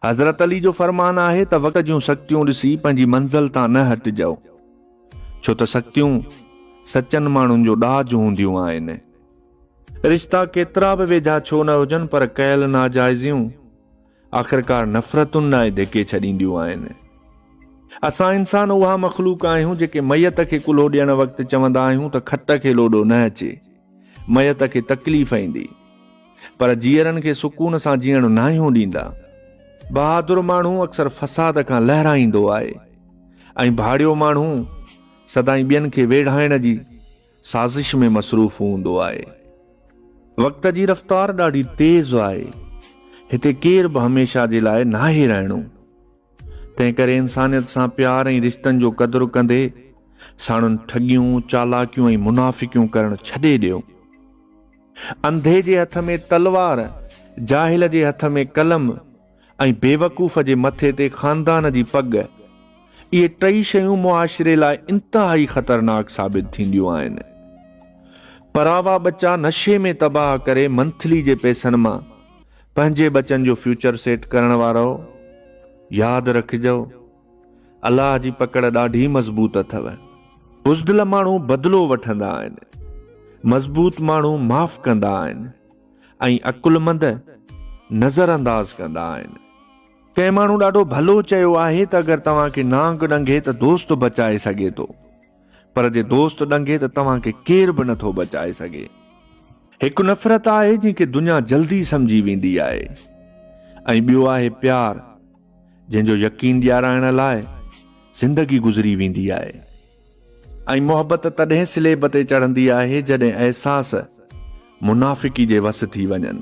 حضرت علي جو فرمان آهي ته وقت جون سختيون ڏسي پنهنجي منزل تان نه هٽجئو ڇو ته سختيون سچن ماڻهن جو ڏاج هونديون آهن. رشتا ڪيترا به ويجها ڇو نه هجن پر ڪيل ناجائزيون آخرڪار نفرتن ڏانهن ڌڪي ڇڏينديون آهن. اسان انسان اها مخلوق آهيون جيڪي ميت کي ڪلهو ڏيڻ وقت چوندا آهيون ته کٽ کي لوڏو نه اچي ميت کي تڪليف ايندي. پر جيئرن کي سڪون سان جيئڻ ناهيون ڏيندا. بهادر ماڻهو اڪثر فساد کان لهرائيندو آهي ۽ ڀاڙيو ماڻهو سدائين ٻين کي ويڙهائڻ جي سازش ۾ مصروف هوندو آهي. وقت جي رفتار ڏاڍي تيز آهي. هتي ڪير به هميشه جي لاء ناهي رهڻو. تنهن ڪري انسانيت سان پيار ۽ رشتن جو قدر ڪندي ساڻن ٺڳيون، چالاڪيون ۽ منافقيون ڪرڻ ڇڏي ڏيو. انڌي جي هٿ ۾ تلوار، جاهل جي هٿ ۾ قلم ۽ بيوقوف جي مٿي تي خاندان جي پڳ. اهي ٽئي شيون معاشري لاء انتهائي خطرناڪ ثابت ٿينديون آهن. پراوا ٻچا نشي ۾ تباهه ڪري منٿلي جي پئسن مان پنهنجي ٻچن جو فيوچر سيٽ ڪرڻ وارئو. ياد رکجئو. الله جي پڪڙ ڏاڍي مضبوط اٿو. بزدل ماڻهو بدلو وٺندا آهن. مضبوط ماڻهو معاف ڪندا آهن ۽ عقلمند نظر انداز ڪندا آهن. ڪنهن ماڻهو ڏاڍو ڀلو چيو آهي ته اگر توهان کي نانگ ڏنگهي ته دوست بچائي سگهي ٿو پر جي دوست ڏنگهي ته توهان کي ڪير به نٿو بچائي سگهي. هڪ نفرت آهي جنهن کي دنيا جلدي سمجهي ويندي آهي ۽ ٻيو آهي پيار. جنهن جو يقين ڏيارائڻ لاء زندگي گذري ويندي آهي ۽ محبت تڏهن سليب تي چڙهندي آهي جڏهن احساس منافقي جي وس ٿي وڃن.